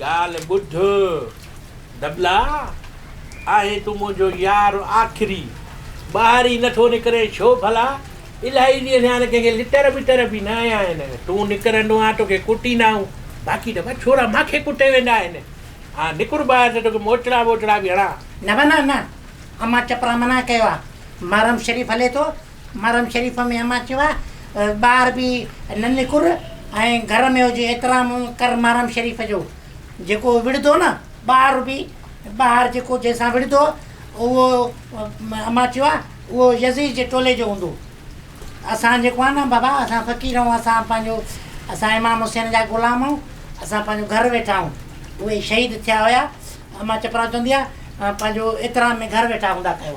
ڳالهه ٻڌ دبلا، آهين تون منهنجو يار آخري، ٻاهر ئي نٿو نڪرين ڇو ڀلا؟ الاهي ڏينهن ٿيا آهن ڪنهن کي لٽر ٻٽر به نه هنيا آهن، تون نڪرندو آهين توکي ڪٽيندا آهيون، باقي ته ٻه ڇورا ماکي ڪٽي ويندا آهن، آء نڪر ٻاهر ته توکي موچڙا ٻوچڙا به هڻان. نه ڀلا نه، امان چپرا منع ڪيو آهي، محرم شريف هلي ٿو، محرم شريف ۾ امان چيو آهي ٻار به ننڪر ۽ گهر ۾ هجي احترام ڪر محرم شريف جو جيڪو وڙهندو نه ٻار به ٻار جيڪو جنهن سان وڙهندو اهو امان چيو آهي اهو يزيد جي ٽولي جو هوندو اسان جيڪو آهي نه بابا اسان فقير آهيون اسان پنهنجو اسان امام حسين جا غلام آهيون اسان پنهنجو گهر ويٺا آهيون اهي شهيد ٿيا هيا امان چپراسي چوندي آهي پنهنجو احترام ۾ گهر ويٺا هوندا ڪيو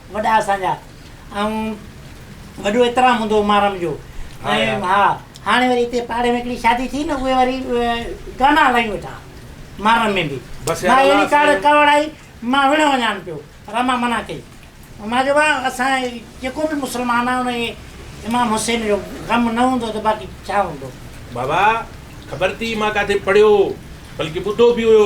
وڏا اسان جا ۽ وڏو احترام هوندو هو محرم جو ۽ ها هاڻي وري هتي پاڙي ۾ هڪڙي شادي ٿي نه اهي وري گانا هلايون ويٺا محرم ۾ به مان اهڙي ڪاڙ ڪاوڙائي مان وڙهي وڃان پيو پر مان منع ڪئي مان چيو ڀاء اسان جيڪو به مسلمان آهي ان کي امام حسين جو غم نه هوندو ته باقي ڇا هوندو. بابا خبر ٿي مان ڪاٿي پڙهيو هو بلڪه ٻڌو به هيو.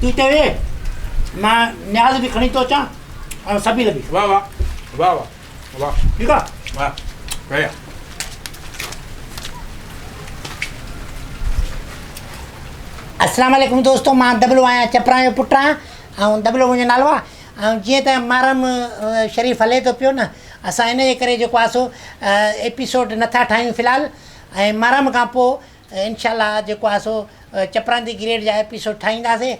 تون اتي ويهه، مان نياز به کڻي ٿو اچان ۽ سبيل به. واهه واهه واهه واهه واهه ٺيڪ آ واهه ڪيا السلام عليڪم دوستو مان دبلو آهيان چپران جو پٽ آهيان ۽ دبلو منهنجو نالو آهي ۽ جيئن ته محرم شريف هلي ٿو پيو نه اسان ان جي ڪري جيڪو آسو ايپيسوڊ نٿا ٺاهيون في الحال ۽ محرم کان پوء انشاء الله جيڪو آهي سو چپراندي گريڊ جا ايپيسوڊ ٺاهينداسي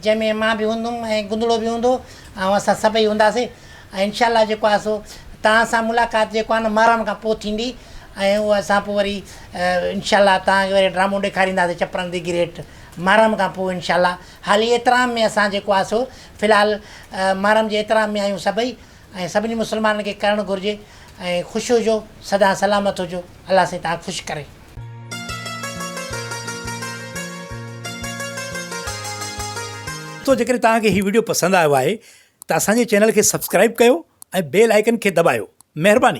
جنهن ۾ مان به هوندم ۽ گندڙو به هوندو ۽ اسان سڀئي هونداسي ۽ انشاء الله جيڪو آهي سو توهان سان ملاقات جيڪو آهي نه محرم کان پوء ٿيندي ۽ اهو اسان پوء وري انشاء الله توهان کي وري ڊرامو ڏيکارينداسي چپراندي گريڊ محرم کان پوء انشاء الله حالي احترام ۾ اسان جيڪو آهي سو في الحال محرم جي احترام ۾ آهيون سڀئي ائين سڀني مسلمانن کي ڪرڻ گهرجي ۽ خوش هجو سدا سلامت هجو الله سائين تهان خوش ڪري. دوستو جيڪڏهن توهان کي هي وڊيو پسند آيو آهي ته اسان جي چينل کي سبسڪرائيب ڪيو ۽ بيل آئيڪن کي دٻايو مهرباني.